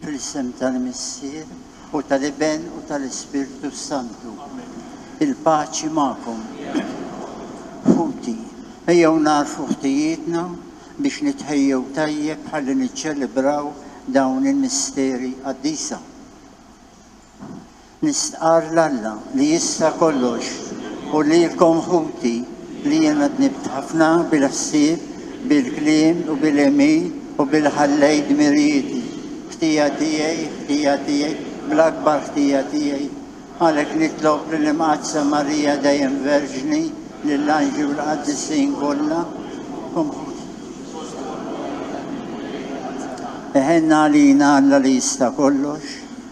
Fl-isem tal-Missier u tal-Iben u tal-Ispirtu s-Santu. Il-paċi magħkom. Ħuti, ejjew nagħrfu ħtijietna biex nitħejjew tajjeb ħalli niċċelebraw dawn il-misteri qaddisa. Nistqarr l-Alla li jista' kollox u lilkom ħuti li jiena dnibt ħafna bil-ħsieb, bil-kliem u bil-għemil u billi ħallejt dmirijieti, ħtija tiegħi, ħtija tiegħi, bl-akbar ħtija tiegħi. Għalhekk nitlob lill-Imqaddsa Marija Dejjem Verġni, lill-anġli u l-qaddisin kollha, kom ħuti. Iħenn għalina Alla li jista' kollox,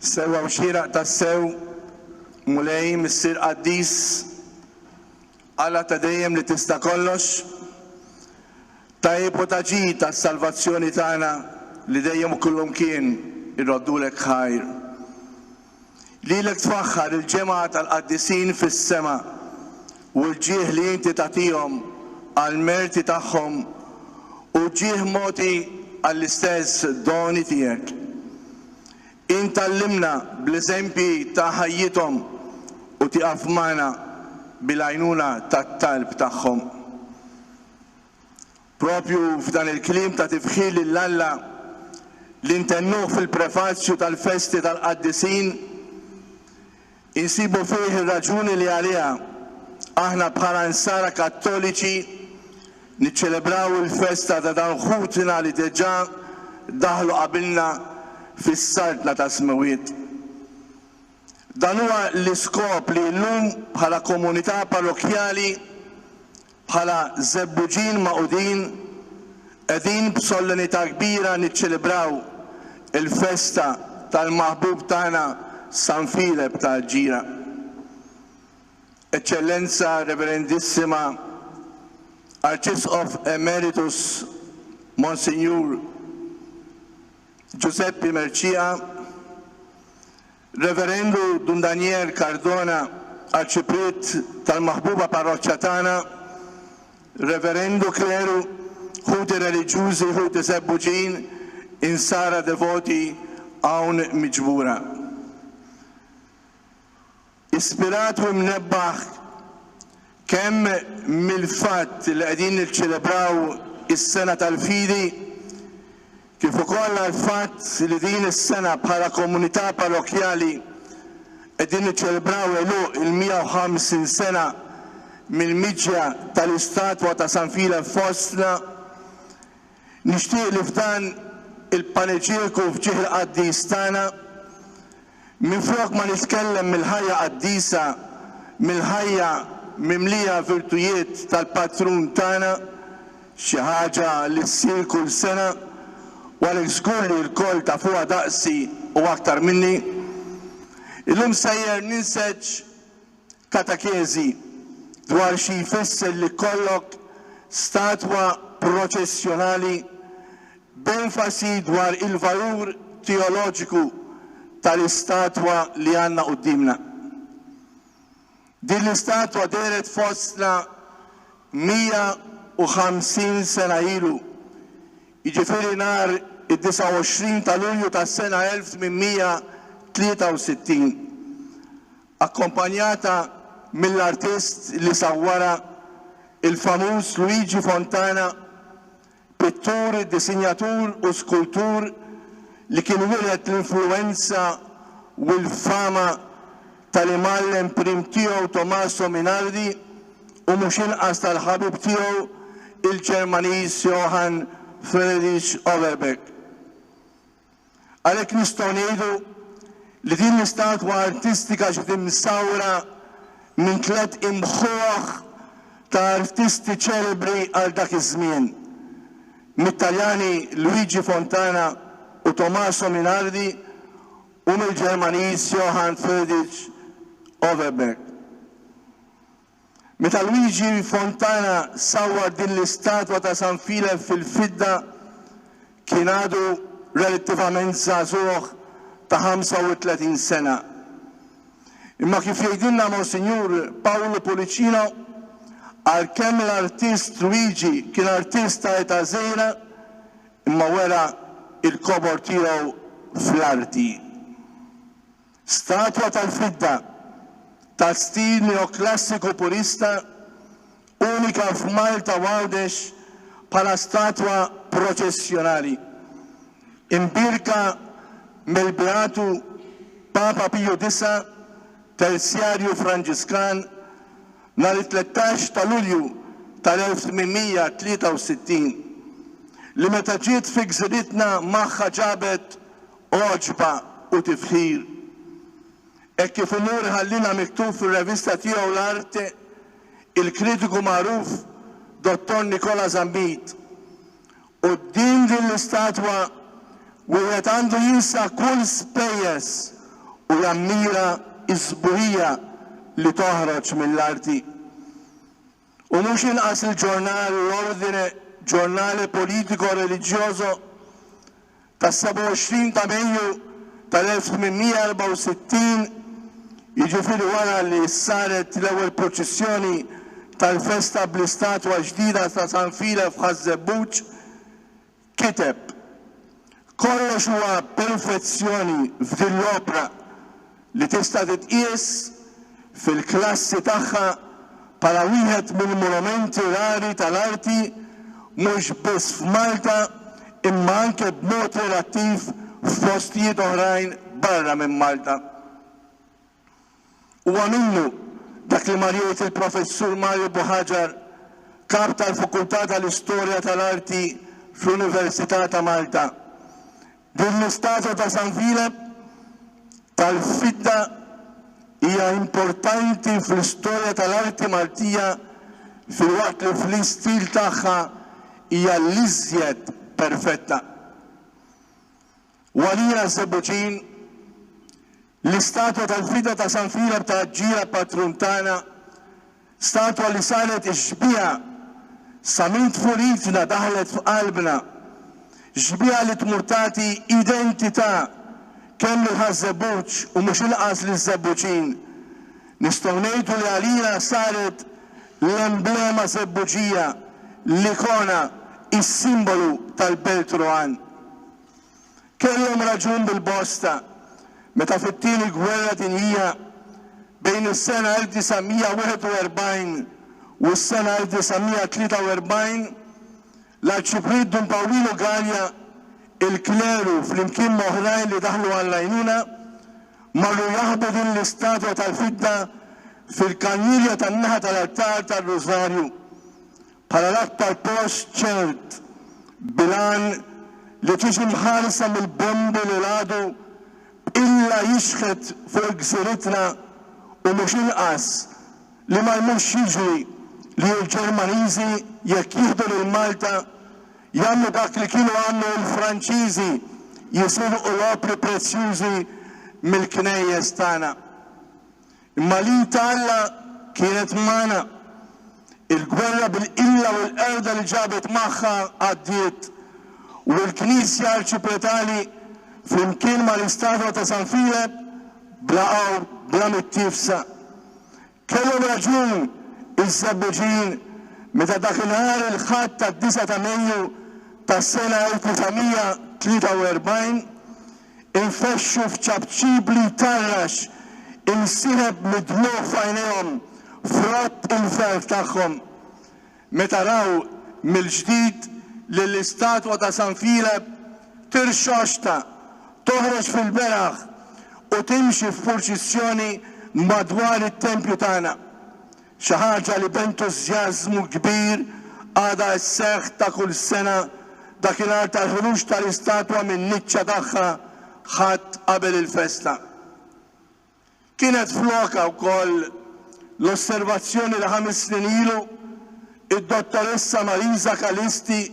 Sewa u xieraq tassew mulej missier qaddis għala ta' dejjem li tista' kollox tajb u taġi tas-salvazzjoni tagħna li dejjem u kullum kien irroddulek ħajr. Lilek tfaħħar il-ġemgħa tal-qaddisin fis-sema, u l-ġieħ li inti tagħtihom għall-merti tagħhom hu ġieħ mogħti għall-istess doni tiegħek. Int tgħallimna bl-eżempji ta' ħajjithom u tieqaf magħna bil-għajnuna tat-talb tagħhom. Proprju f'dan il-kliem ta' tifħir lil Alla li ntennuh fil-prefazju tal-festi tal-qaddisin, insibu fih ir-raġuni li għaliha aħna bħala Nsara Kattoliċi niċċelebraw il-festa ta' dawn ħutna li deġà daħlu qabilna fis-Saltna tas-Smewwiet. Dan huwa l-iskop li llum bħala komunità parrokkjali, Bħala żebbuġin magħqudin, qegħdin b'sollenità kbira niċċelebraw il-festa tal-maħbub tagħna San Filep ta' Aġġira. Eċċellenza Reverendissima Arċisqof Emeritus Monsinjur Ġużeppi Mercieca, Reverendu Dun Daniel Cardona Arċipriet tal-maħbuba parroċċa tagħna, Reverendu Kleru, Ħuti Reliġjużi, Ħuti Żebbuġin, Insara Devoti hawn miġbura. Ispirat u imnebbaħ, Kemm mill-fatt li qegħdin niċċelebraw is-Sena tal-Fidi kif ukoll għall-fatt li din is-sena bħala komunità parrokkjali qegħdin niċċelebraw għeluq il-150 sena mill-miġja tal-istatwa ta' San Filep fostna, Nixtieq li f'dan il-paneġieku f'ġieħ il-qaddis tagħna, minflok ma nitkellem mill-ħajja qaddisa, mill-ħajja mimlija virtujiet tal-patrun tagħna, xi ħaġa li ssir kull sena u għalhekk żgur li lkoll tafuha daqsi u aktar minni, illum sejjer ninseġ katakezi dwar xi jfisser li jkollok statwa proċessjonali b'enfasi dwar il-valur teoloġiku tal-istatwa li għandna quddiemna. Din l-istatwa dehret fostna 150 sena ilu, jiġifieri nhar id-29 ta' Lulju tas-sena 1863. akkompanjata mill-artist li sawwarha, il-famuż Luigi Fontana, pittur, disinjatur u skultur li kien wieled l-influwenza u l-fama tal-imgħallem prim tiegħu Tommaso Minardi u mhux inqas tal-ħabib tiegħu il-Ġermaniż Johann Friedrich Overbeck. Għalhekk nistgħu ngħidu li din l-istatwa artistika ġiet imsawra minn tliet imħuħ ta' artisti ċelebri għal dak iż-żmien, mit-Taljani Luigi Fontana u Tommaso Minardi u mill-Ġermaniż Johann Friedrich Overberg. Meta Luigi Fontana sawwar din l-istatwa ta' San Filef fil-fidda kien għadu relattivament żagħżugħ ta' 35 sena. Imma kif jgħidilna Monsinjur Paolo Pullicino, għalkemm l-artist Luigi kien artist ta' età żgħira imma wera l-kobor tiegħu fl-arti. Statwa tal-fidda ta' stil neoklassiku purista, unika f'Malta u Għawdex bħala statwa proċessjonali. Imbierka mill-Beatu Papa Piju Disa', Terzjarju Franġiskan, nhar it-tlettax ta' Lulju tal-1863, li meta ġiet fi gżiritna magħha ġabet għoġba u tifħir, hekk kif imur iħallina miktub fir-revista tiegħu L-Arte il-kritiku magħruf Dottor Nicola Zammit. Quddiem din l-istatwa wieħed għandu jinsa kull spejjeż u jammira s-sbuħija li toħroġ mill-arti. U mhux inqas il-ġurnal L'Ordine, ġurnale politico-religioso tas-27 ta' Mejju tal-1864, jiġifieri wara li saret l-ewwel proċissjoni tal-festa bl-istatwa ġdida ta' San File f'Ħaż-Żebbuġ, kiteb, Kollox huwa perfezzjoni f'din l-opra li tista' titqies fil-klassi tagħha bħala wieħed mill-monumenti rari tal-arti mhux biss f'Malta imma anke b'mod relattiv f'postijiet oħrajn barra minn Malta. Huwa minnu dak li mar jgħid il-Professur Mario Buhagiar, Kap tal-Fukultà tal-Istorja tal-Arti fl-Università ta' Malta, Din l-istatwa ta' San Filep tal-fidda hija importanti fl-istorja tal-arti Maltija filwaqt li fl-istil tagħha hija l-iżjed perfetta. Walija Sebuġin, L-istatwa tal-fida ta' San Filep ta' Aġġija patrun tagħna, statwa li saret ix-xbieha sa minn tfulitna daħlet f'qalbna, xbieha li tmur tagħti identità kemm lill-Ħaż-Żebbuġ u mhux inqas liż-Żebbuġin. Nistgħu ngħidu li għalina saret l-emblema Żebbuġija, l-ikona, is-simbolu tal-Belt Rowan. kellhom raġun bil-bosta meta fit-Tieni Gwerra Dinjija, bejn is-sena 1941 u s-sena 1943, l-Arċipriet Dun Pawlilu Galea, il-kleru flimkien ma' oħrajn li daħlu għall-għajnuna, marru jaħbu din l-istatwa tal-fidda fil-kannilja tan-naħa tal-altar tar-Rużarju. bħala l-aktar post ċert bil-għan li tiġi mħarsa mill-bombi li l-għadu bqilla jixħet fuq gżiritna u mhux inqas li ma jmurx jiġri li l-Ġermaniżi jekk jieħdu lil Malta jagħmlu dak li kienu għamlu l-Franċiżi jisirqu l-opri prezzjużi mill-knejjes tagħna. Imma l-id ta' Alla kienet magħna. Il-gwerra bil-qilla u l-qerda li ġabet magħha għaddiet, u l-Knisja Arċipretali, flimkien mal-istatwa ta' San Filep, bla qawr, bla mittiefsa. Kellhom raġun iż-Żebbuġin meta dak inhar il-Ħadd tad-disgħa ta' Mejju tas-sena 1943 infexxu f'ċapċip li jtarrax insireb mid-dmugħ f'għajnejhom frott il-ferħ tagħhom meta raw mill-ġdid lill-istatwa ta' San Filep tirxoxta, toħroġ fil-beraħ u timxi f'purċissjoni madwar it-tempju tagħna. Xi ħaġa li b'entużjażmu kbir għadha sseħħ ta' kull sena, dakinhar tal-ħruġ tal-istatwa min-niċċa tagħha Ħadd qabel il-festa. Kienet f'lokha wkoll l-osservazzjoni li ħames snin ilu, id-Dottoressa Marisa Calisti,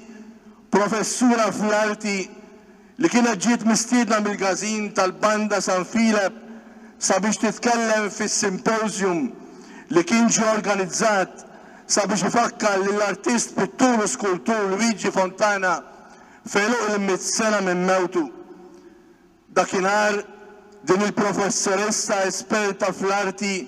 professura fl-arti, li kienet ġiet mistiedna mill-Gazin tal-Banda San Filep sabiex titkellem fis-simpożjum li kien ġie organizzat sabiex ifakkar lill-artist, pittur u skultur Luigi Fontana f'għeluq il-mitt sena minn mewtu. Dakinhar, din il-professoressa esperta fl-arti,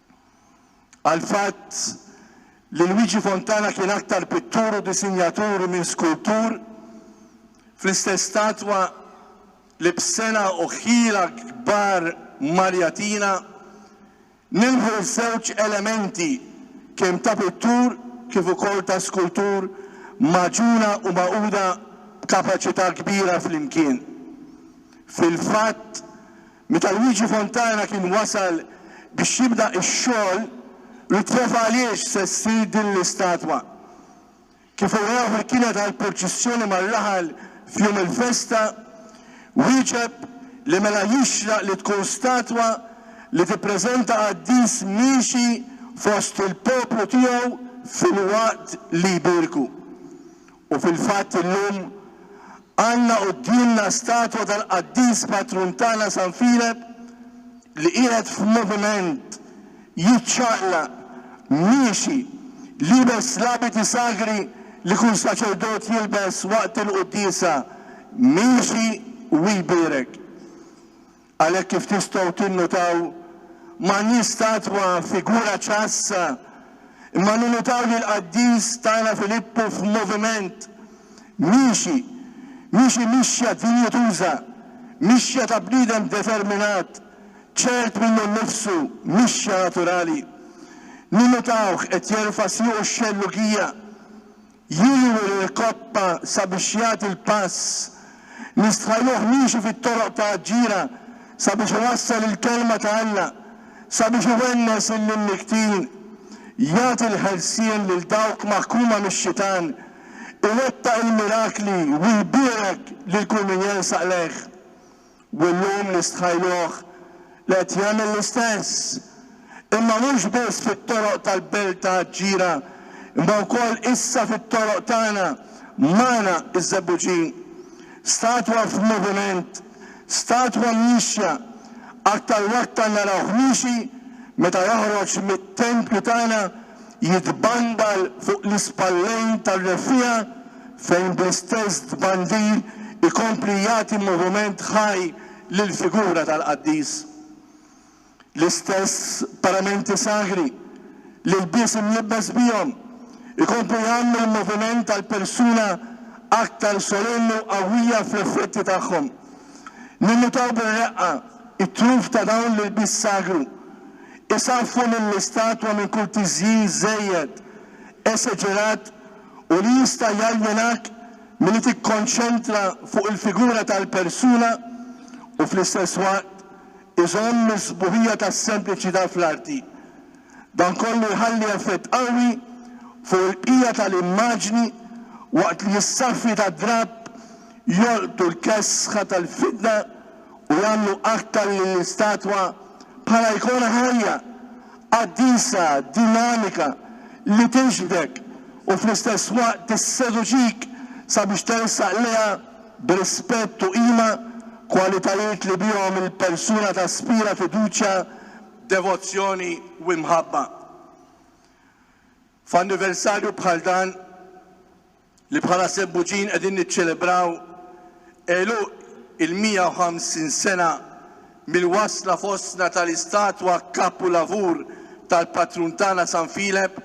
għall-fatt li Luigi Fontana kien aktar pittur u disinjatur minn skultur, fl-istess statwa li b'sena u ħila kbar Marjatina nilħu ż-żewġ elementi kemm ta' pittur kif ukoll ta' skultur magħġuna u magħquda b'kapaċità kbira flimkien. Fil-fatt, Meta Luigi Fontana kien wasal biex jibda x-xogħol, Luzzef għaliex se ssir din l-istatwa? Kif urew bil-kila tal-purċissjoni mar-raħal f'jum il-festa, wieġeb li mela jixraq li tkun statwa li tippreżenta qaddis miexi fost il-poplu tiegħu filwaqt li jbierku. U fil-fatt illum għandna quddiemna statwa tal-qaddis patrun tagħna San Filep li qiegħed f'moviment, jiċċaqlaq, miexi, liebes l-abiti sagri li kull saċerdot jilbes waqt il-quddiesa, miexi u jbierek. Għalhekk kif tistgħu tinnutaw, m'għandniex statwa, figura ċassa, imma ninnutaw lill-qaddis tagħna Filippu f'moviment, miexi, miexi mixja dinjituża, mixja ta' bniedem determinat, ċert minnu nnifsu, mixja naturali. Ninnutawh qed jerfa' siequ x-xellugija, Jieħu lil Coppa sabiex jagħti l-pass li stħajruh miexi fit-toroq ta' Aġġira sabiex iwassal il-Kelma ta' Alla, sabiex iwennes lill-imnikktin, jagħti l-ħelsien lil dawk maħkuma mix-xitan, iwettaq il-mirakli u jbierek lil kull min jelsaq lejh. U illum nistħajluh li qed jagħmel l-istess, imma mhux biss fit-toroq tal-belt ta' Aġġira, imma wkoll issa fit-toroq tagħna, magħna iż-Żebbuġin. Statwa f'moviment, statwa miexja, aktar u aktar narawh miexi meta joħroġ mit-tempju tagħna jitbandal fuq l-ispallejn tar-reffiegħa fejn bl-istess tbandir ikompli jagħti moviment ħaj lill-figura tal-qaddis. L-istess paramenti sagri, l-ilbies imlibbes bihom, ikomplu jagħmlu l-moviment tal-persuna aktar solenni u qawwija fl-effetti tagħhom. Ninnutaw bir-reqqa t-truf ta' dawn l-ilbies sagru, isaffu lill-istatwa minn kull tiżjin żejjed, eseġerat u li jista' jaljenak milli tikkonċentra fuq il-figura tal-persuna u fl-istess waqt iżomm is-sbuħija tas-sempliċità fl-arti. Dan kollu jħalli effett qawwi fuq il-bqija tal-immaġni waqt li s-saffi tad-drapp jolqtu l-kesħa tal-fidda u jagħmlu aktar lill-istatwa bħala ikona ħajja, qaddisa, dinamika li tiġbdek u fl-istess waqt tisseduċik sabiex tersaq lejha b'rispett u qima, kwalitajiet li bihom il-persuna taspira fiduċja, devozzjoni u imħabba. F'anniversarju bħal dan, li bħala Sebbuġin qegħdin niċċelebraw għeluq il-150 sena mill-wasla fostna tal-istatwa kapulavur tal-patrun tagħna San Filep,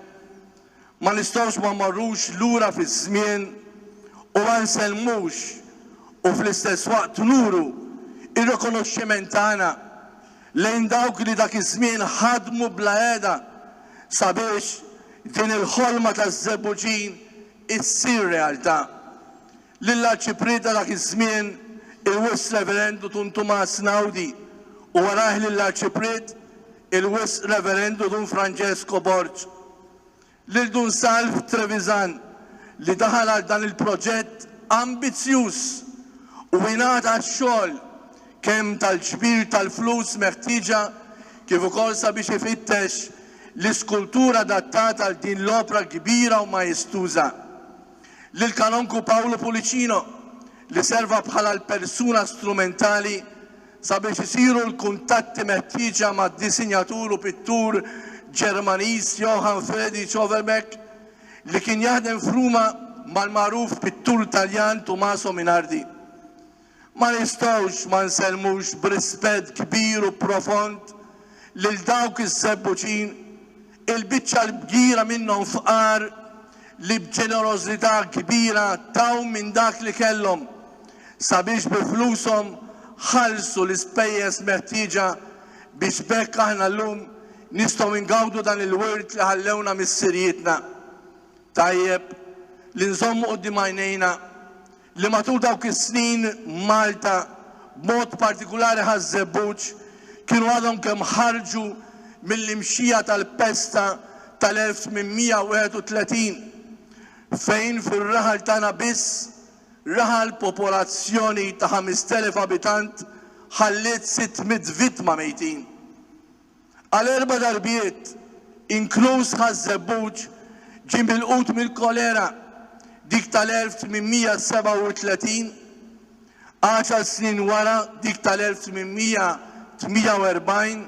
ma nistgħux ma mmorrux lura fiż-żmien u ma nsellmux u fl-istess waqt nuru r-rikonoxximent tagħna lejn dawk li dak iż-żmien ħadmu bla heda sabiex din il-ħolma taż-Żebbuġin issir realtà. Lill-Arċipriet ta' dak iż-żmien, il-Wisq Reverendu Dun Tumas Naudi, u warajh lill-Arċipriet, il-Wisq Reverendu Dun Francesco Borg. lil Dun Salv Trevisan li daħal għal dan il-proġett ambizzjuż u ingħata x-xogħol kemm tal-ġbir tal-flus meħtieġa kif ukoll sabiex ifittex l-iskultur adattat għal din l-opra kbira u majestuża, lill-Kanonku Paolo Pullicino li serva bħala l-persuna strumentali Sabiex isiru l-kuntatti meħtieġa mad-disinjatur u pittur Ġermaniż Johann Friedrich Overbeck, li kien jaħdem f'Ruma mal-magħruf pittur Taljan Tumaso Minardi, ma nistgħux ma nsellmux b'rispett kbir u profond lil dawk iż-żebbuġin Il-biċċa l-kbira minnhom fqar li b'ġenerożità kbira taw minn dak li kellhom sabiex bi flushom ħallsu l-ispejjeż meħtieġa biex b'hekk aħna llum nistgħu ngawdu dan il-wirt li ħallewna missirijietna. Tajjeb li nżommu quddiem għajnejna li matul dawk is-snin Malta, b'mod partikulari Ħaż-Żebbuġ, kienu għadhom kemm ħarġu mill-imxija tal-pesta tal-1831, fejn fir-raħal tagħna biss, raħal popolazzjoni ta' 5,000 abitant, ħalliet sitt mitt vittma mejtin. Għal erba' darbiet, inkluż Ħaż-Żebbuġ, ġie milqut mill-kolera, dik tal-1837, għaxar snin wara dik tal-1848,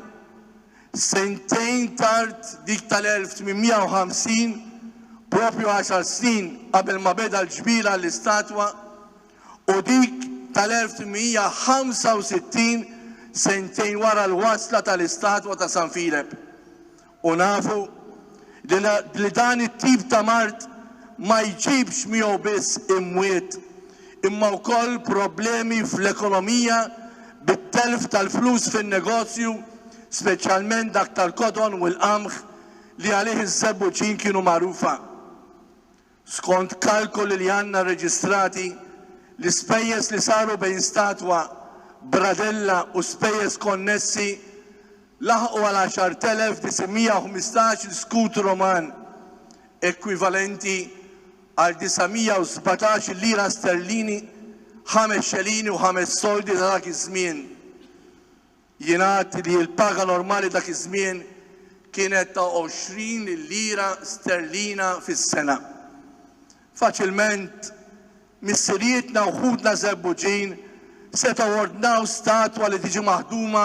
sentejn tard dik tal-1850, proprju għaxar snin qabel ma beda l-ġbir għall-istatwa, u dik tal-1865 sentejn wara l-wasla tal-istatwa ta' San Filep. U nafu li dan it-tip ta' mard ma jġibx miegħu biss imwiet imma wkoll problemi fl-ekonomija bit-telf tal-flus fin-negozju, speċjalment dak tal-kodon u l-qamħ li għalih iż-żebbuġin kienu magħrufa. Skont kalkoli li għandna rreġistrati, l-ispejjeż li saru bejn statwa, bradella u spejjeż konnessi laħqu għal 10,915 skut Roman, ekwivalenti għal 917 lira sterlini, ħames xelini u ħames soldi ta' dak iż-żmien. Jingħad li l-paga normali dak iż-żmien kienet ta' 20 lira sterlina fis-sena. Faċilment, missirijietna u ħutna Żebbuġin setgħu ordnaw statwa li tiġi maħduma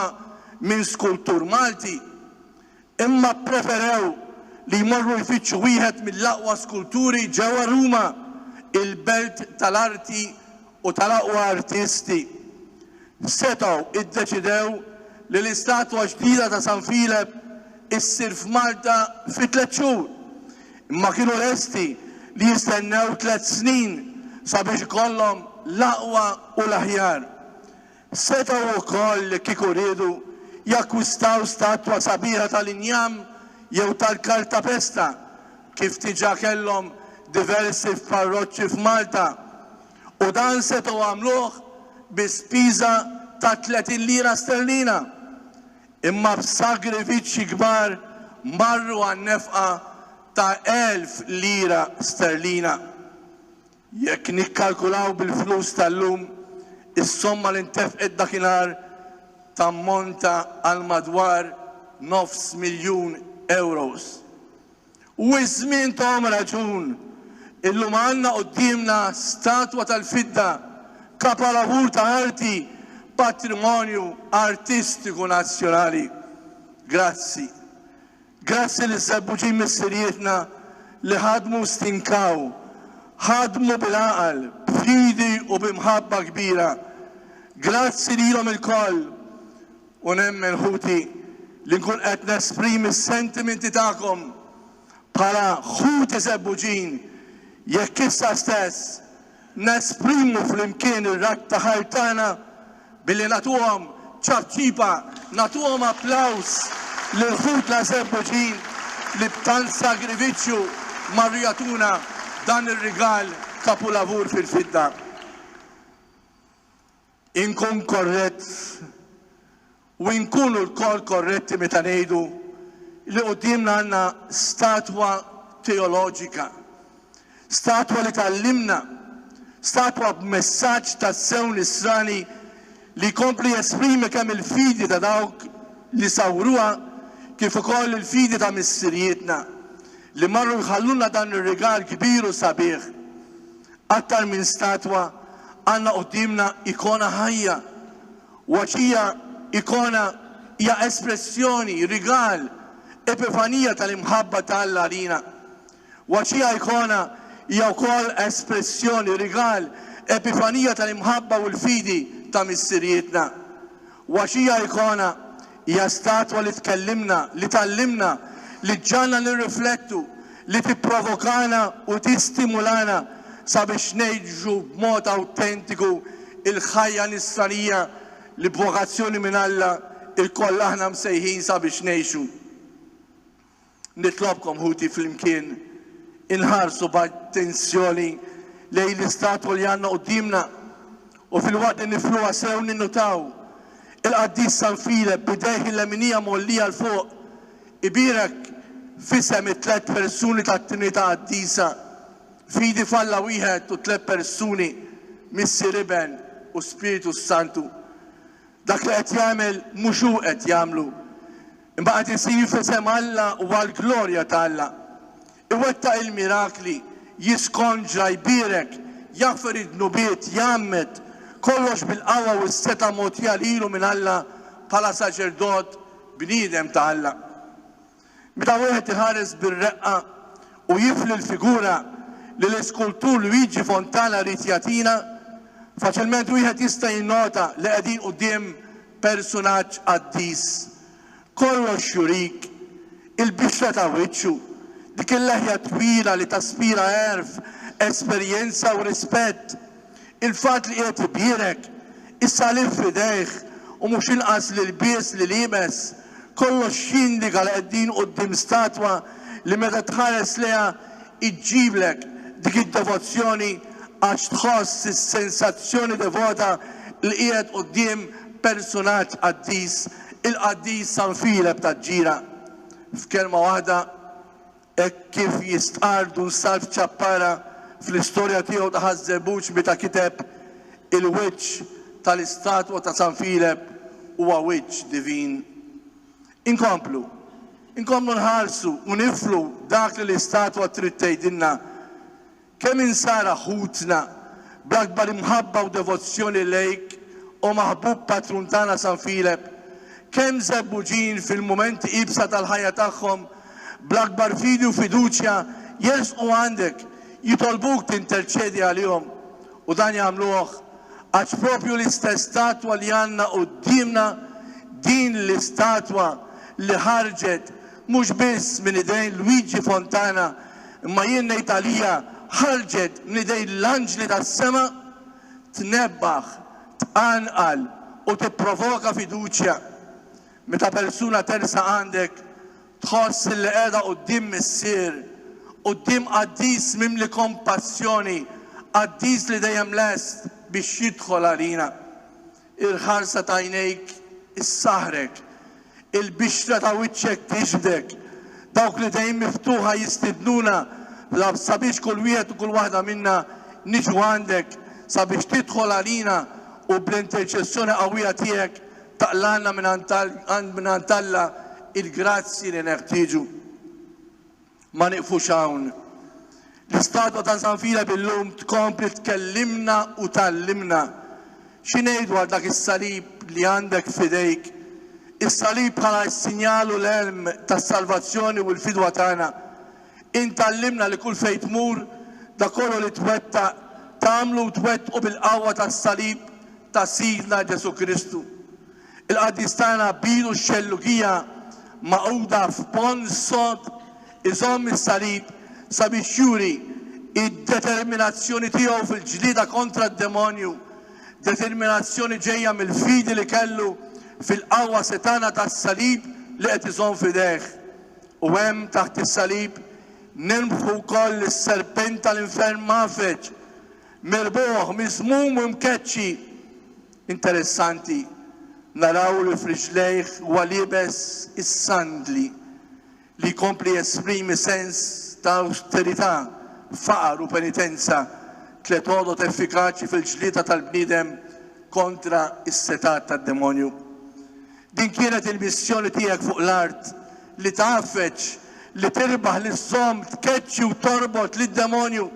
minn skultur Malti. Imma ppreferew li jmorru jfittxu wieħed mill-aqwa skulturi ġewwa Ruma, il-belt tal-arti u tal-aqwa artisti. Setgħu iddeċidew li l-istatwa ġdida ta' San Filep issir f'Malta fi tliet xhur, imma kienu lesti li jistennew tliet snin sabiex ikollhom l-aqwa u l-aħjar. Setgħu wkoll, jekk kieku riedu, jakkwistaw statwa sabiħa tal-injam jew tal-kartapesta, kif diġà kellhom diversi f'parroċċi f'Malta, u dan setgħu għamluh bi spiża ta' tletin lira sterlina. Imma b'sagrifiċċji kbar marru għan-nefqa ta' elf lira sterlina. Jekk nikkalkulaw bil-flus tal-lum, is-somma li ntefqet dakinhar tammonta għal madwar nofs miljun ewros. U iż-żmien thom raġun, illum għandna quddiemna statwa tal-fidda, kapalavur ta' arti, patrimonju artistiku nazzjonali. Grazzi. Grazzi liż-żebbuġin missirijietna li ħadmu u stinkaw, ħadmu bil-għaqal, b'fidi u bi mħabba kbira. Grazzi lilhom ilkoll u nemmen, ħuti, li nkun qed nesprimi s-sentimenti tagħkom bħala ħuti żebbuġin, jekk issa stess, Nesprimu flimkien ir-radd ta' ħajr tagħna billi nagħtuhom ċapċipa, nagħtuhom applaws lil ħutna Żebbuġin li b'tant sagrifiċċju marru jagħtuna dan ir-rigal kapulavur fil-fidda. Inkun korrett u inkunu lkoll korretti meta ngħidu li quddiemna għandna statwa teoloġika, statwa li tgħallimna, statwa b'messaġġ tassew nisrani li jkompli jesprimi kemm il-fidi ta' dawk li sawruha kif ukoll il-fidi ta' missirijietna li marru jħallulna dan ir-rigal kbir u sabiħ. Aktar minn statwa, għandna quddiemna ikona ħajja. Waċija, ikona, hija espressjoni, rigal, epifanija tal-imħabba ta' Alla għalina. Waċija, ikona, hija wkoll espressjoni, rigal, epifanija tal-imħabba u l-fidi ta' missirijietna. Waċija, ikona, Hija statwa li tkellimna, li tgħallimna, li ġġagħalna nirriflettu, li tipprovokana u tistimulana sabiex ngħixu b'mod awtentiku l-ħajja Nisranija li b'vokazzjoni minn Alla lkoll aħna msejħin sabiex ngħixu. Nitlobkom ħuti flimkien inħarsu b'attenzjoni lejn l-istatwa li għandna quddiemna u filwaqt li nifluha sew ninnutaw il-Qaddis San Filep b'idejh il-leminija mgħollija 'l fuq ibierek f'isem it-tliet persuni tat-Trinità Qaddisa, fidi f'Alla wieħed u tliet persuni, Missier Iben u Spiritu s-Santu. Dak li qed jagħmel mhux hu qed jagħmlu. Imma qed isir f'isem Alla u għall-glorja ta' Alla. Iwettaq il-mirakli, jiskonġra, jbierek, jaħfer id-dnubiet, jgħammed, kollox bil-qawwa u s-setgħa mogħtija lilu minn Alla bħala saċerdot bniedem ta' Alla. Meta wieħed iħares bir-reqqa u jifli l-figura li l-iskultur Luigi Fontana ried jagħtina, faċilment wieħed jista' jinnota li qegħdin quddiem Persunaġġ qaddis, kollox jurik, il-bixra ta' wiċċu, dik il-leħja twila li taspira għerf, esperjenza u rispett, il-fatt li qiegħed ibierek, is-salib f'idejh u mhux inqas l-ilbies li liebes, kollox jindiga li qegħdin quddiem statwa li meta tħares lejha iġġiblek dik id-devozzjoni għax tħoss is-sensazzjoni devota li qiegħed quddiem persunaġġ qaddis, il-qaddis San Filep taġ-Ġira. F'kelma waħda, hekk kif jistqarr Dun Salv Ciappara fl-istorja tiegħu ta' Ħaż-Żebbuġ meta kiteb, Il-wiċċ tal-istatwa ta' San Filep huwa wiċċ divin. Inkomplu. Inkomplu nħarsu u niflu dak li l-istatwa trid tgħidilna, kemm insara ħutna, bl-akbar imħabba u devozzjoni lejk, O maħbub patrun tagħna San Filep, kemm żebbuġin fil-mumenti iebsa tal-ħajja tagħhom, bl-akbar fidi u fiduċja jersqu għandek, jitolbuk tinterċedi għalihom, U dan jagħmluh għax proprju l-istess statwa li għandna quddiemna, din l-istatwa li ħarġet mhux biss minn idejn Luigi Fontana imma jien ngħid għalija ħarġet minn idejn l-anġli tas-sema, tnebbaħ, tqanqal u tipprovoka fiduċja. Meta persuna tersaq għandek Tħoss li qiegħda quddiem missier, quddiem qaddis mimli kompassjoni, qaddis li dejjem lest biex jidħol għalina. Il-ħarsa t'għajnejk issaħħrek, il-bixra ta' wiċċek tiġbdek, dawk li dejjem miftuħa jistidnuna sabiex kull wieħed u kull waħda minna niġu għandek sabiex tidħol għalina u bl-interċessjoni qawwija tiegħek Taqlagħna mingħand Alla l-grazzji li neħtieġu. Ma nieqfux hawn. L-istatwa ta' San Filep illum tkompli tkellimna u tgħallimna. Xi ngħid dwar dak is-salib li għandek f'idejk? Is-salib bħala s-sinjal u l-għelm tas-salvazzjoni u l-fidwa tagħna. Int tgħallimna li kull fejn tmur, dak kollu li twettaq, tagħmlu u twettqu bil-qawwa tas-salib ta' Sidna Ġesù Kristu. Il-qaddis tagħna Bidu x-Xellugija, magħquda f'ponn sod, iżomm is-salib sabiex juri d-determinazzjoni tiegħu fil-ġlieda kontra d-demonju, determinazzjoni ġejja mill-fidi li kellu fil-qawwa setgħana tas-salib li qed iżomm f'idejh. U hemm, taħt is-salib, nirbħu wkoll lis-serpent tal-infern mgħaffeġ, mirbuħ, miżmum u mkeċċi. Interessanti naraw li f'riġlejh huwa liebes is-sandli, li jkompli jesprimi sens ta' awsterità, faqar u penitenza, tliet għodod effikaċi fil-ġlieda tal-bniedem kontra s-setgħat tad-demonju. Din kienet il-missjoni tiegħek fuq l-art, li tgħaffeġ, li tirbaħ, li żżomm, tkeċċi u torbot lid-demonju.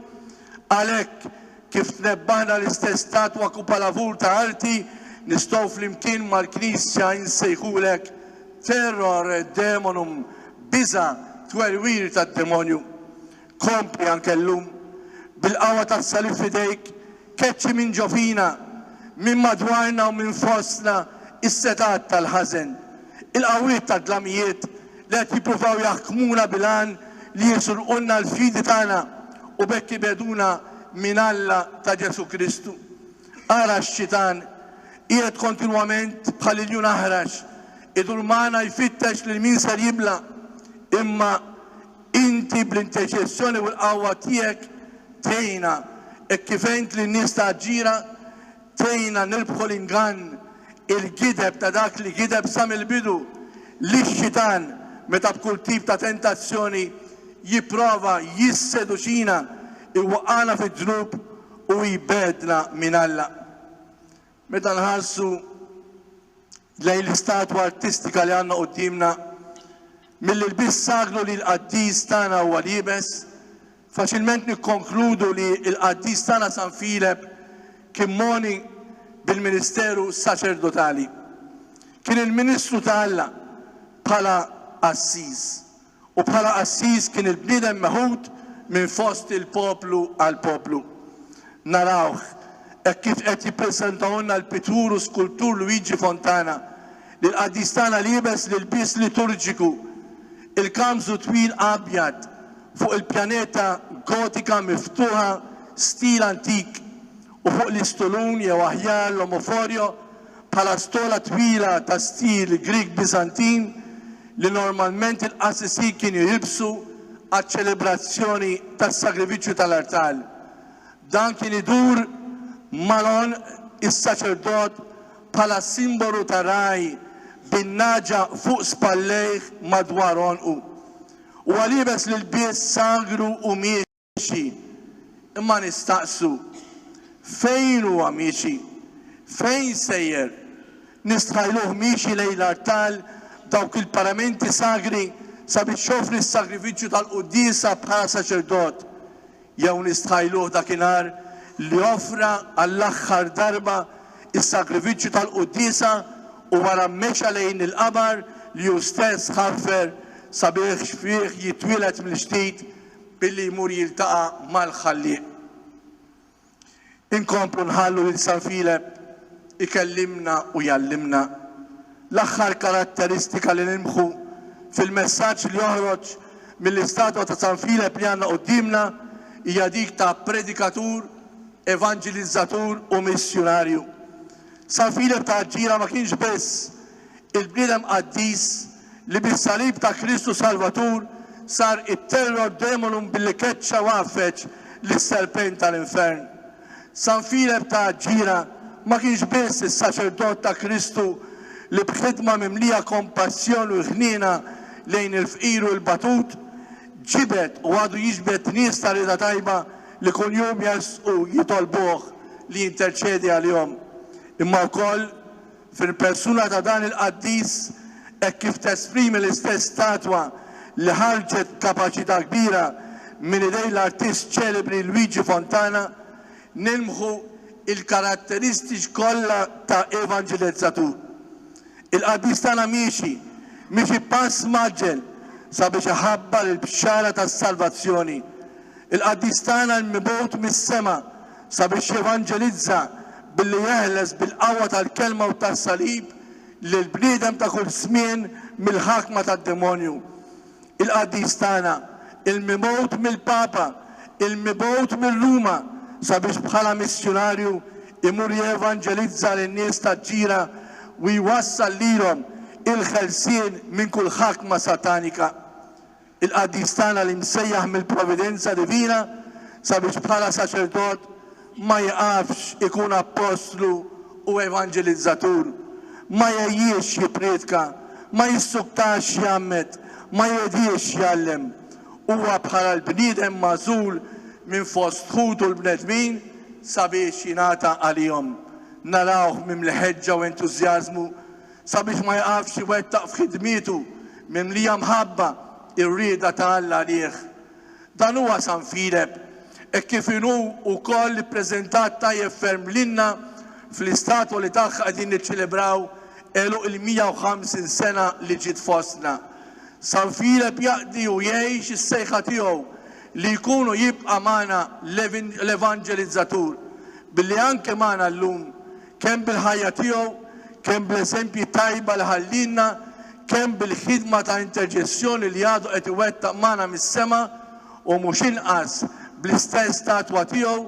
Għalhekk, kif tnebbaħna l-istess statwa kupalavur ta' arti, nistgħu flimkien mal-Knisja insejħulek Terror demonum, biża', twerwir tad-demonju. Kompli anke llum, bil-qawwa tas-Salib f'idejk, keċċi minn ġo fina, minn madwarna u minn fostna s-setgħat tal-ħażen, il-qawwiet tad-dlamijiet li qed jippruvaw jaħkmuna bil-għan li jisurqulna l-fidi tagħna u b'hekk ibegħduna minn Alla ta' Ġesù Kristu. Ara x-xitan, qiegħed kontinwament bħal iljun aħrax, idur magħna jfittex lil min ser jibla', imma Inti bl-interċessjoni u l-qawwa tiegħek tgħinna hekk kif għint lin-nies ta' Aġġira, tgħinna nirbħu l-ingann, il-gideb ta' dak li gideb sa mill-bidu, li x-xitan meta b'kull tip ta' tentazzjoni jipprova jisseduċina, iwaqqagħna fid-dnub u jbegħdna minn Alla. Meta nħarsu lejn l-istatwa artistika li għandna quddiemna, mill-ilbies sagru li l-qaddis tagħna huwa liebes, faċilment nikkonkludu li l-qaddis tagħna San Filep kien mogħni bil-ministeru saċerdotali. Kien il-ministru ta' Alla bħala qassiż. u bħala qassis kien il-bniedem meħud minn fost il-poplu għall-poplu. Narawh hekk kif qed jippreżentahulna l-pittur u skultur Luigi Fontana li l-qaddis tagħna liebes l-ilbies liturġiku, il-kanbżu twil abjad fuq il-pjaneta gotika miftuħa stil antik u fuq l-istulun jew aħjar l-omoforio bħala stola twila ta' stil Grieg-Biżantin, li normalment il-qassisin kienu jilbsu għaċ-ċelebrazzjoni tas-sagrifiċċju tal-artal. Dan kien idur mal-għon is-saċerdot bħala simbolu ta' ragħaj bin-nagħġa fuq spallejh madwar għonqu. Huwa liebes l-ilbies sagru u miexi, imma nistaqsu, Fejn huwa miexi? Fejn sejjer? Nistħajluh miexi lejn l-artal b'dawk il-paramenti sagri sabiex joffri s-sagrifiċċju tal-quddiesa bħala saċerdot? Jew nistħajluh dakinhar li offra għall-aħħar darba s-sagrifiċċju tal-quddiesa u wara mexa lejn il-qabar li hu stess ħaffer sabiex fih jitwieled mill-ġdid Billi jmur jiltaqa' mal-Ħallieq. Inkomplu nħallu lil San Filep ikellimna u jgħallimna. L-aħħar karatteristika li nilmħu fil-messaġġ li joħroġ mill-istatwa ta' San Filep li għandna quddiemna hija dik ta' predikatur, evanġilizzatur u missjunarju. San Filep ta' Aġġira ma kienx biss il-bniedem qaddis li bis-salib ta' Kristu Salvatur sar it-terror demonum billi keċċa u għaffeġ lis-serpent tal-infern. San Filep ta' Aġġira ma kienx biss is-saċerdot ta' Kristu li b'ħidma mimlija kompassjoni u ħniena lejn il-fqir u l-batut, ġibed u għadu jiġbed nies ta' rieda tajba li kuljum jersqu jitolbuh li jinterċedi għalihom, imma wkoll Fil-persuna ta' dan il-qaddis, hekk kif tesprimi l-istess statwa li ħarġet b'kapaċità kbira minn idejn l-artist ċelebri Luigi Fontana, nilmħu l-karatteristiċ kollha ta' evanġelizzatur. Il-qaddis tagħna miexi, miexi pass mgħaġġel sabiex iħabbar il-bxara tas-salvazzjoni. Il-qaddis tagħna l-mibgħut mis-sema, sabiex jevanġelizza billi jeħles bil-qawwa tal-Kelma u tas-Salib lill-bniedem ta' kull żmien mill-ħakma tad-demonju. Il-Qaddis tagħna, il-mibgħut mill-Papa, il-mibgħut minn Ruma sabiex bħala missjunarju jmur jevanġelizza lin-nies taġ-ġira u jwassal lilhom il-ħelsien minn kull ħakma satanika. Il-qaddis tagħna li msejjaħ mill-providenza divina sabiex bħala saċerdot ma jiqafx ikun appostlu u evanġelizzatur, ma jgħejjiex jipprietka, ma jissuktax jgħammed, ma jgħediex jgħallem. Huwa bħala l-bniedem magħżul minn fost ħutu l-bnedmin sabiex jingħata għalihom. Narawh mimli ħeġġa u entużjażmu sabiex ma jqafx iwettaq f'ħidmietu mimlija mħabba r-rieda ta' Alla għalih. Dan huwa San Filep, hekk kif inhu wkoll ippreżentat tajjeb ferm lilna fl-istatwa li tagħha qegħdin niċċelebraw għeluq il-150 sena li ġiet fostna. San Filep jaqdi u jgħix is-sejħa tiegħu li jkun u jibqa' magħna l-evanġelizzatur, billi anke magħna llum kemm bil-ħajja tiegħu, kemm bl-eżempji tajba li ħallielna, kemm bil-ħidma ta' interċessjoni li għadu qed iwettaq magħna mis-sema, u mhux inqas bl-istess statwa tiegħu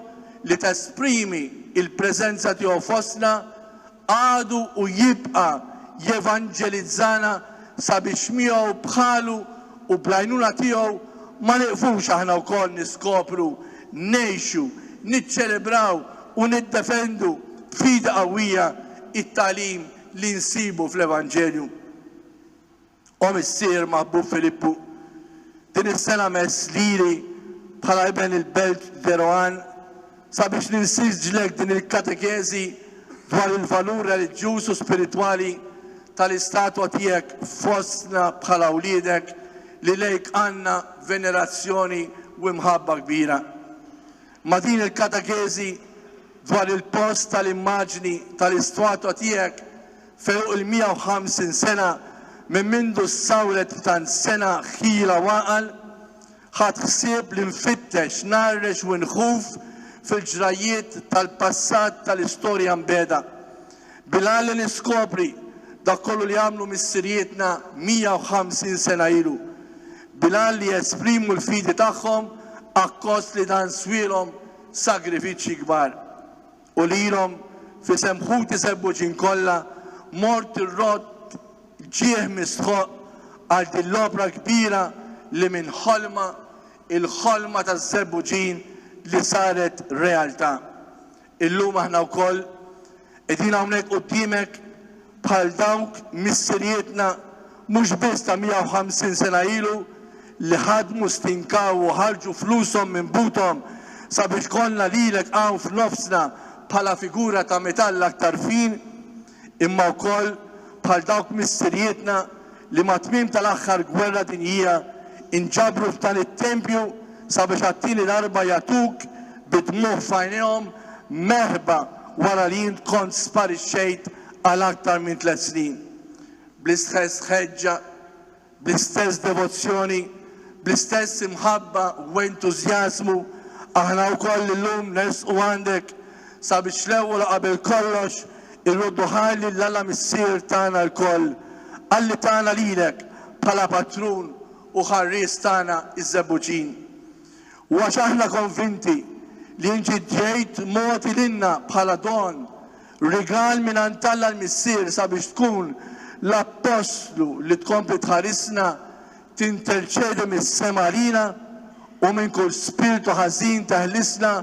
li tesprimi l-preżenza tiegħu fostna, għadu u jibqa' jevanġelizzana sabiex miegħu, bħalu u bl-għajnuna tiegħu ma nieqfux aħna wkoll niskopru, ngħixu, niċċelebraw, u niddefendu b'fidi qawwija t-tagħlim li nsibu fl-Evanġelju. O Missier maħbub Filippu, din is-sena mess lili bħala iben il-Belt de Roanne sabiex ninsistġlek din il-katekeżi dwar il-valur reliġjuż u spiritwali tal-istatwa tiegħek fostna bħala wliedek li lejk għandna venerazzjoni u imħabba kbira. Ma' din il-katekeżi dwar il-post tal-immaġni tal-istwatwa tiegħek f'għeruq il-150 sena minn mindu ssawret b'tant sengħa ħira u għaqal, ħadt ħsieb li nfittex, ngħarrex u nħuf fil-ġrajjiet tal-passat tal-istorja mbiegħda. Bil-għan li niskopri dak kollu li għamlu missirijietna 150 sena ilu, bil-għan li jesprimu l-fidi tagħhom akkost li dan swielhom sagrifiċċji kbar. U lilhom, f'isem ħuti Sebbuġin kollha, mort irrodd ġieħ mistħoqq għal din l-opra kbira li minn ħolma, il-ħolma taż-Żebbuġin li saret realtà. Illum aħna wkoll qegħdin hawnhekk quddiemek bħal dawk missirijietna mhux biss ta' 150 sena ilu li ħadmu, stinkaw u ħarġu flushom minn buthom sabiex kollna lilek hawn f'nofsna bħala figura ta' metall aktar fin, imma wkoll bħal dawk missirijietna li mat-tmiem tal-aħħar gwerra dinjija nġabru f'dan it-tempju sabiex għat-tieni darba jagħtuk bid-dmugħ f'għajnejhom merħba wara li int kont sparixxejt għal aktar minn tliet snin. Bl-istħess ħeġġa Bl-istess devozzjoni, bl-istess imħabba u entużjażmu, aħna wkoll illum nersqu għandek sabiex l-ewwel u qabel kollox irroddu ħajr lil Alla Missier tagħna lkoll, Alli tagħna lilek bħala Patrun u Ħarries tagħna iż-Żebbuġin. U għax aħna konvinti li inti ġejt mogħti lilna bħala don Rigal mingħand Alla l-Missier sabiex tkun l-Appostlu li tkompli tħarisna, tinterċedi mis-sema għalina u minn kull spirtu ħażin teħlisna,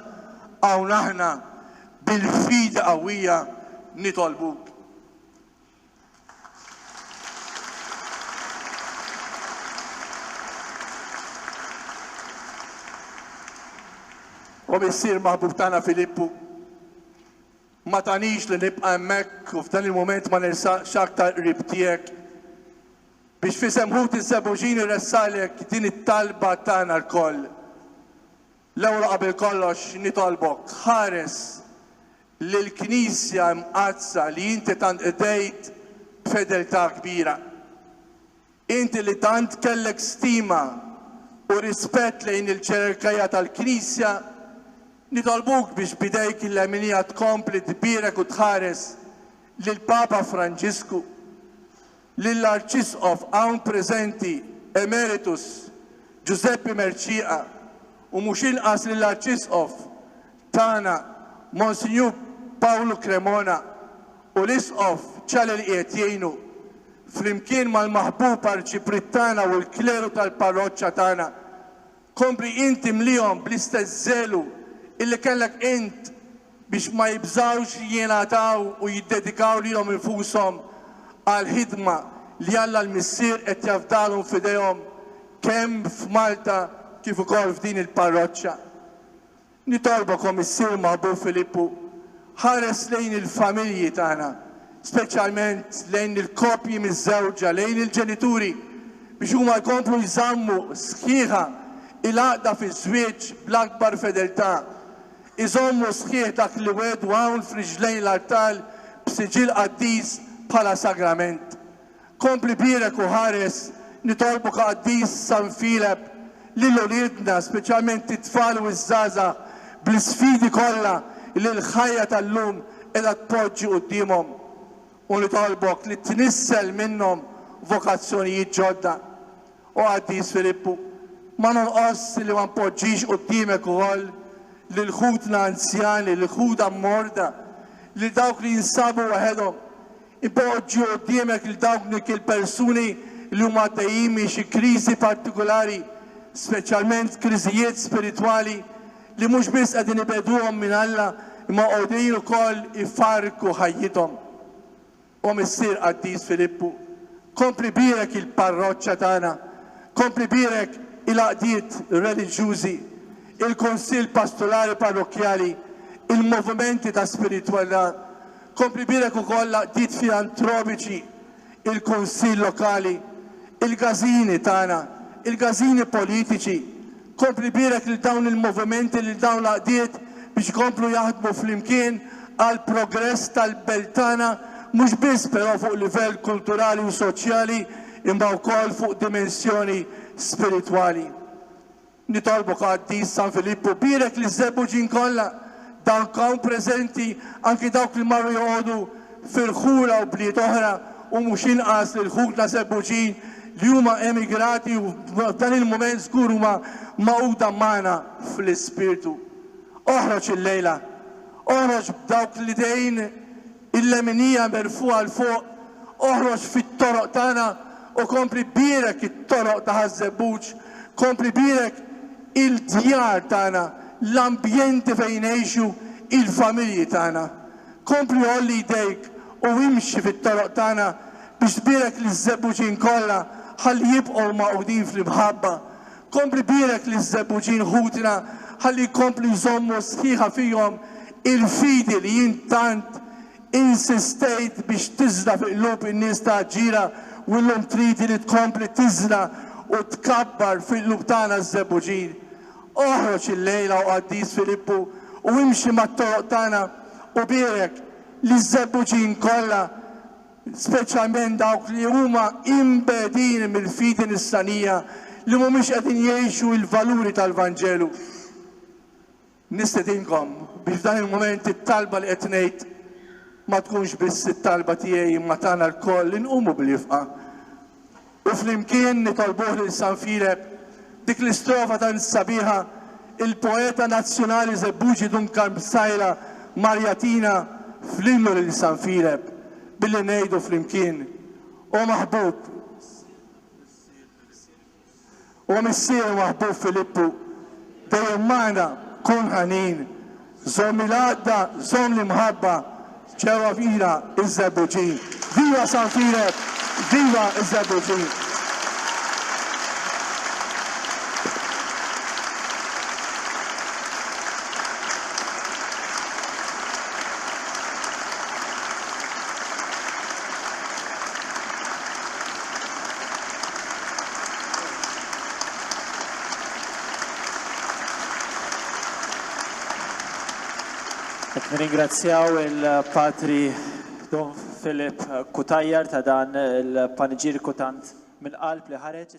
hawn aħna bil-fidi qawwija nitolbuk. O Missier maħbub tagħna Filippu, Ma tagħnix li nibqa' hemmhekk u f'dan il-mument ma nersaqx aktar qrib tiegħek, biex f'isem ħuti ż-Żebbuġin irressaqlek din it-talba tagħna lkoll. L-ewwel u qabel kollox nitolbok, ħares lill-Knisja Imqaddsa li inti tant qdejt b'fedeltà kbira. Inti li tant kellek stima u rispett lejn il-ġerarkija tal-Knisja, nitolbuk biex b'idejk il-leminija tkompli tbierek u tħares lill-Papa Franġisku, lill-Arċisqof hawn preżenti Emeritus Ġużeppi Mercieqa u mhux inqas lill-Arċisqof tagħna Monsinjur Pawlu Cremona u l-Isqof Ciale li qiegħed jgħinu, flimkien mal-maħbub Arċipriet tagħna u l-kleru tal-parroċċa tagħna. Kompli int imlihom bl-istess żelu illi kellek int biex ma jibżgħux li jingħataw u jiddedikaw lilhom infushom għall-ħidma li Alla l-Missier qed jafdalhom f'idejhom kemm f'Malta kif ukoll f'din il-parroċċa. Nitolbokom issir ma' Ħbu Filippu, ħares lejn il-familji tagħna, speċjalment lejn il-koppji miżżewġa, lejn il-ġenituri, biex huma jkomplu jżammu sħiħa l-għaqda fiż-żwieġ bl-akbar fedeltà, iżommu sħiħ dak li wegħdu hawn f'riġlejn l-artal b'siġill qaddis bħala sagrament. Kompli bierek u ħares, nitolbuk Qaddis San Filep, lil uliedna, speċjalment it-tfal u ż-żgħażagħ, bl-isfidi kollha li l-ħajja tal-lum qiegħda tpoġġi quddiemhom. U nitolbok li tnissel minnhom vokazzjonijiet ġodda. O Qaddis Filippu, ma nonqosx li ma npoġġix quddiemek ukoll lil ħutna anzjani, lil ħuda morda, lil dawk li jinsabu waħedhom, Ipoġġi quddiemek lil dawk il-persuni li huma għaddejjin minn xi kriżi partikulari, speċjalment kriżijiet spiritwali li mhux biss qegħdin ibegħduhom minn Alla imma qegħdin ukoll ifarrku ħajjithom. O Missier Qaddis Filippu, kompli bierek il-parroċċa tagħna, kompli bierek il-għaqdiet reliġjużi, il-Kunsill Pastorali Parrokkjali, il-movimenti ta' spiritwalità, Kompli jbierek ukoll l-għaqdiet filantropiċi, il-Kunsill Lokali, il-Gazini tagħna, il-Gazini Politiċi. Kompli jbierek lil dawn il-movimenti, lil dawn l-għaqdiet biex ikomplu jaħdmu flimkien għall-progress tal-belt tagħna mhux biss però fuq livell kulturali u soċjali imma wkoll fuq dimensjoni spiritwali. Nitolbu Qaddis San Filippu bierek liż-żebbuġin kollha, dawk hawn preżenti, anki dawk li marru joqogħdu f'irħula u bliet oħra, u mhux inqas lil ħutna żebbuġin li huma emigrati u f'dan il-mument żgur huma magħquda magħna fl-ispirtu. Oħroġ illejla. Oħroġ b'dawk l-idejn Il-leminija merfugħa 'l fuq, oħroġ fit-toroq tagħna u kompli bierek it-toroq ta' Ħaż-Żebbuġ, kompli bierek il-djar tagħna, l-ambjenti fejn ngħixu, il-familji tagħna. Kompli għolli jdejk u imxi fit-toroq tagħna biex tbierek liż-Żebbuġin kollha ħalli jibqgħu magħqudin fl-imħabba, Kompli bierek liż-żebbuġin ħutna ħalli jkomplu jżommu sħiħa fihom il-fidi li int tant insistejt biex tiżra' fi qlub in-nies ta' Aġġira u llum tridi li tkompli tiżra' u tkabbar fi qlub tagħna ż-żebbuġin. Oħroġ illejla, O Qaddis Filippu, u imxi mat-toroq tagħna u bierek liż-żebbuġin kollha speċjalment dawk li huma imbegħdin mill-fidi nisranija, li mhumiex qegħdin jgħixu l-valuri tal-Vanġelu. Nistedinkom biex f'dan il-mument it-talba li qed ngħid ma tkunx biss it-talba tiegħi imma tagħna lkoll li nqumu bl-ifqa. U flimkien nitolbuh lil San Filep dik l-istrofa tant sabiħa il-poeta nazzjonali Żebbuġi Dun Karm Psaila mar jagħtina fl-innu lil San Filep billi ngħidu flimkien, O maħbub! O Missier u Aħbub Filippu, dejjem magħna, kun ħanin, żomm il-għaqda, żomm l-imħabba, ġewwa fqira iż-Żebbuġin. Viva San Fireb, viva ż-Żebbuġin! Qed nirringrazzjaw il-Patri Dun Philip Cutajar ta' dan il-paniġiriku tant mill-qalb li ħareġ.